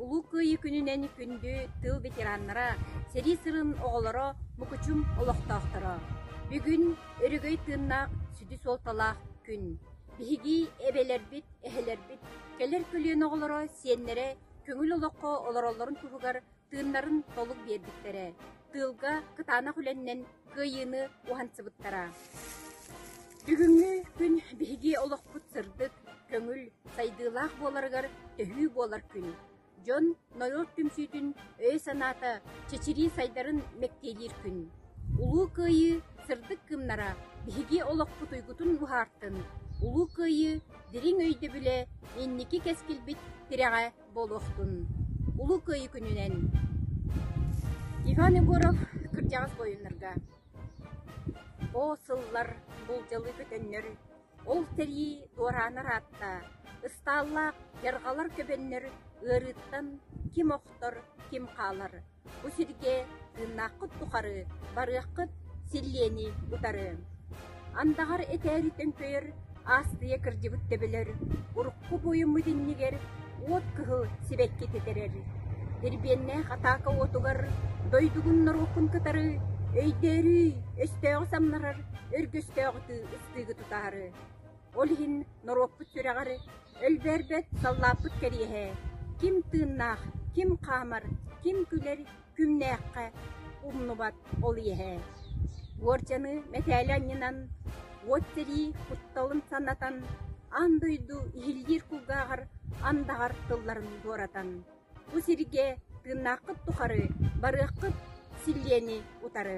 Улуу Кыайыы күнүнэн күндү тыл ветераннара, сэрии сырын оҕолоро, мукучум олохтоохторо! Бүгүн өрөгөй тыыннаах сүдү суолталаах күн. Биһиги эбэлэрбит, эһэлэрбит, кэлэр көлүөнэ оҕолоро, сиэннэрэ көҥүл олоххо олороллорун туһугар тыыннарын толук биэрбиттэрэ, тыылга кытаанах үлэннэн кыайыыны уһансыбыттара. Бүгүҥҥү күн биһиги олохпут сырдык, көҥүл, сайдыылаах буоларыгар төһүү буолар күн. Дьон норуот түмсүүтүн өйө-санаата чэчирии сайдарын мэктиэлиир күн. Улуу Кыайыы сырдык кыымнара биһиги олохпут уйгутун буһаартын, Улуу Кыайыы дириҥ өйдөбүлэ инники кэскилбит тирэҕэ буолуохтун Улуу Кыайыы күнүнэн Иван Егоров кырдьаҕас буойуннарга Оо сыллар буулдьалыы көтөннөр ол тэрии дуораанар аатта ыстааллаах дьарҕалар көбөннөр ыарыыттан ким охтор ким хаалар Бу сиргэ тыыннааххыт тухары барыаххыт, силлиэни утары. Андаҕар этээри төҥкөйөр аастыйа кырдьыбыт төбөлөр урукку буойуммут иннигэр уот кыһыл сибэкки тэтэрэр. Дирбиэннээх атаака уотугар дойдугун норуоккун кытары өйдөөрүй, өстөөҕү самнарар өргөстөөҕү ыстыыгы тутаары. Ол иһин норуоппут сүрэҕэр өлбөөрбөт, саллааппыт кэриэһэ, ким тыыннаах, ким хаамар, ким күлэр күҥнээххэ умнубат ол иэһэ. Уордьаны мэтээли анньынан, уот сэрии кутталын санатан, аан дойду иһиллиир кулгааҕар андаҕар тылларын туоратан, бу сиргэ тыыннааххыт тухары барыаххыт силлиэни утары